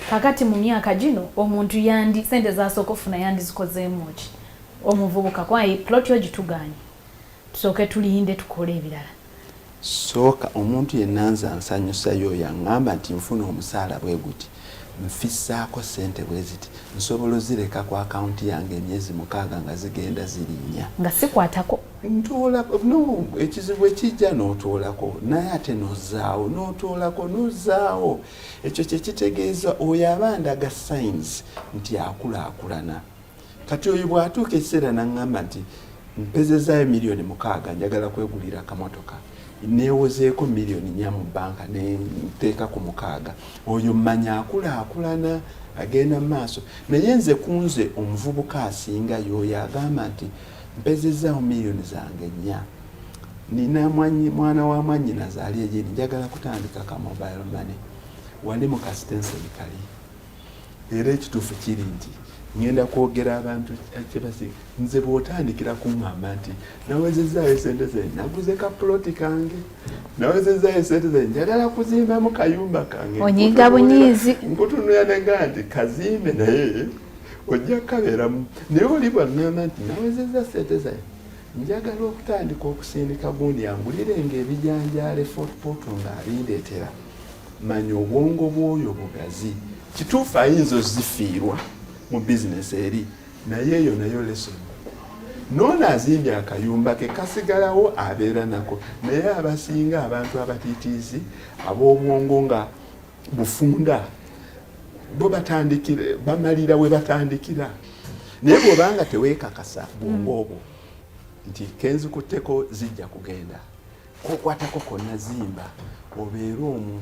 kakati mu myaka gino omuntu yandi sente zasooka ofuna yandizikozeemu ki omuvubuka kwaye ploti ogituganye tusooke tulinde tukole ebirala sooka omuntu yenna nze ansanyusayo oyo aŋŋamba nti nfuna omusaala bwe guti nfissaako sente bwe ziti nsobola ozireka ku akawunti yange emyezi mukaaga nga zigenda zirinnya nga sikwatako ntuula no ekizibu ekijja n'otuulako naye ate n'ozaawo n'otuulako n'ozaawo ekyo kyekitegeeza oyo aba ndaga signs nti akulaakulana kati oyo bwatuuka ekiseera naŋŋamba nti mpezezaayo miliyoni mukaaga njagala kwegulira akamotoka newozeeko miliyoni nya mu banka nenteeka ku mukaaga oyo mmanya akulaakulana agenda mu maaso naye nze kunze omuvubuka asinga yooyo agamba nti mpezezaawo miliyoni zange nnya nina mwana wa mwanyina zaali egini njagala kutandika ka mobile money wali mu kasitenseni kali era ekituufu kiri nti ngenda kwogera abantu kyebasi nze bwotandikira kuŋamba nti nawezezaayo esente ze naguze ka puloti kange nawezezaayo esente ze njagala kuzimbamu kayumba kange onyiga bunyiizi nkutunula nega nti kazimbe naye ojja kukabeeramu naye oli bwaŋamba nti nawezeza sente zayo Njagala okutandika okusindika gundi angulire nga ebijanjaale Fort Portal ng'abindeetera. Manya obwongo bw'oyo bugazi. Kituufu ayinza ozifiirwa mu bizinesi eri naye eyo nayo lesson noono azimbye akayumba ke kasigalawo abeera nako naye abasinga abantu abatiitiizi ab'obwongo nga bufunda bo batandikira bamalira we batandikira naye bwoba nga tewekakasa bwongo mm. obwo nti kenzikutteko zijja kugenda kokwatako konna zimba obeere omu